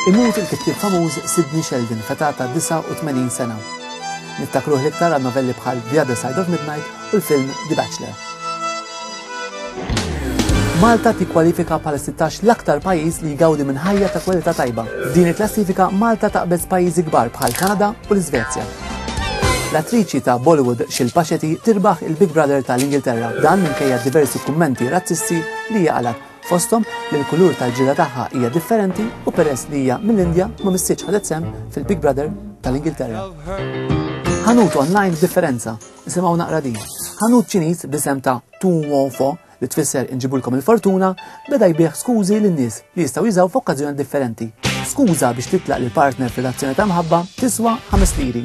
Imut il-kittieb famuż Sidney Sheldon feta ta' 89 sena. Nittakruh l-iktar għal novelli bħal The Other Side of Midnight u l-film The Bachelor. Malta tikkwalifika bħala 16 l-aktar pajjiż li jgawdi minn ħajja ta' kwalità tajba. Din il-klassifika Malta taqbeż pajjiżi kbar bħal Kanada u l-Iżvezja. L-attriċi ta' Bollywood Shilpa Shetty tirbaħ il-Big Brother ta' l-Ingilterra, dan minkejja diversi kummenti razzisti li hija qalgħet, fosthom li l-kulur tal-ġilda tagħha hija differenti u peress li hija mill-Indja ma missitx ħadet sehem fil-Big Brother ta' l-Ingilterra. Ħanut online b'differenza, nisimgħu naqra din. Ħanut Ċiniż bl-isem ta' Tuwofo li tfisser inġibulkom il-fortuna, beda jbigħ skużi lin-nies li jistgħu jużaw f'okkażjoni differenti. Skuża biex titlaq lill-partner f'relazzjoni ta' mħabba tiswa ħames liri.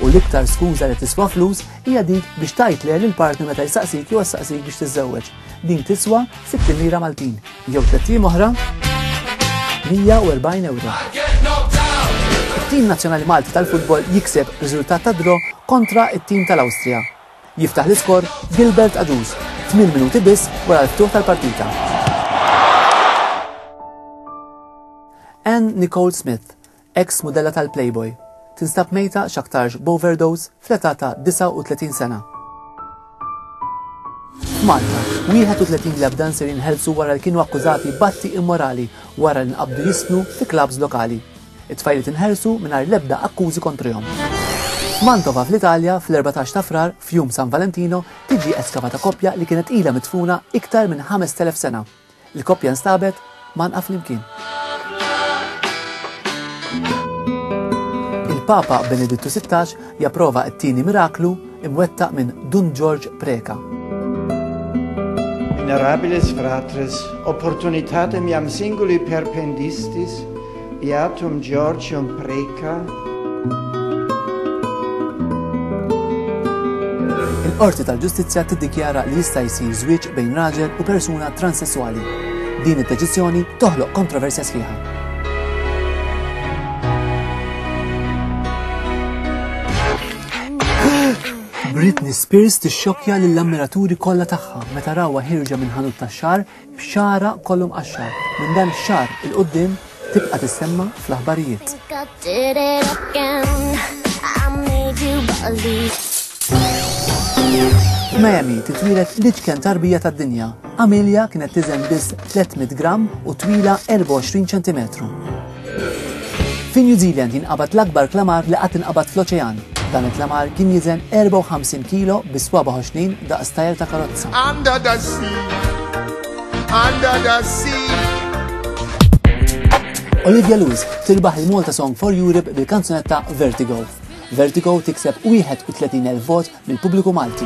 U l-iktar skuża li tiswa flus hija dik biex tgħid le lill-partner meta jsaqsik jew ssaqsik biex tiżżewweġ. Din tiswa sitt lira Maltin jew tliet ijiem oħra 140 ewro. Tim nazzjonali Malti tal-futbol jikseb riżultat ta' draw kontra it-tim tal-Awstrija. Jiftaħ l-iskor Gilbert Agius, tmien minuti biss wara l-ftuħ tal-partita. Anne Nicole Smith, eks mudella tal-Playboy, tinstab mejta x'aktarx b'overdose fl-età ta' 39 sena. Malta, 31 lebda nsir jinħelsu wara li kienu akkużati batti immorali wara li nqabdu jisnu fi klabs lokali. It-tfajliet inħelsu mingħajr l-ebda akkużi kontrihom. F'Mantova fl-Italja, fl-erbatax ta' Frar, f'jum San Valentino, tiġi eskavata koppja li kienet ilha midfuna iktar minn 5,000 sena. Il-koppja nstabet mgħannqa flimkien. Il-Papa Benedittu Sittax Japprova t-tieni miraklu imwettaq minn Dun Ġorġ Preca. Minerabilis fratres opportunitatem jam singuli perpendistis beatum Georgium Preca. Il-Qorti tal-Ġustizzja tiddikjara li jista' jsir żwieġ bejn raġel u persuna transessuali. Din id-deċiżjoni toħloq kontroversja sħiħa. Britney Spears tixxokkja lill-ammiraturi kollha tagħha meta rawha ħirġa minn ħanut tax-xar b'xara kollhom qaxxar. Minn dan ix-xar il qudiem tibqa' tissemma fl-aħbarijiet. Miami titwilet l-itken tarbija tad-dinja Amelia kienet tiżen biss 300 gramm u twila 24 ċentimetru. Fi New Zealand jinqabad l-akbar klamar li qatt inqabad fl-oċean. Dan il-klamar kien jiżen 54 kilo bi swaba ħoxnin daqs tajr ta' karozza. Under the sea, under the sea. Olivia Lewis tirbaħ il-Malta Song for Europe bil-kanzunetta Vertigo. Vertigo tikseb 31,000 vot mill-pubbliku Malti.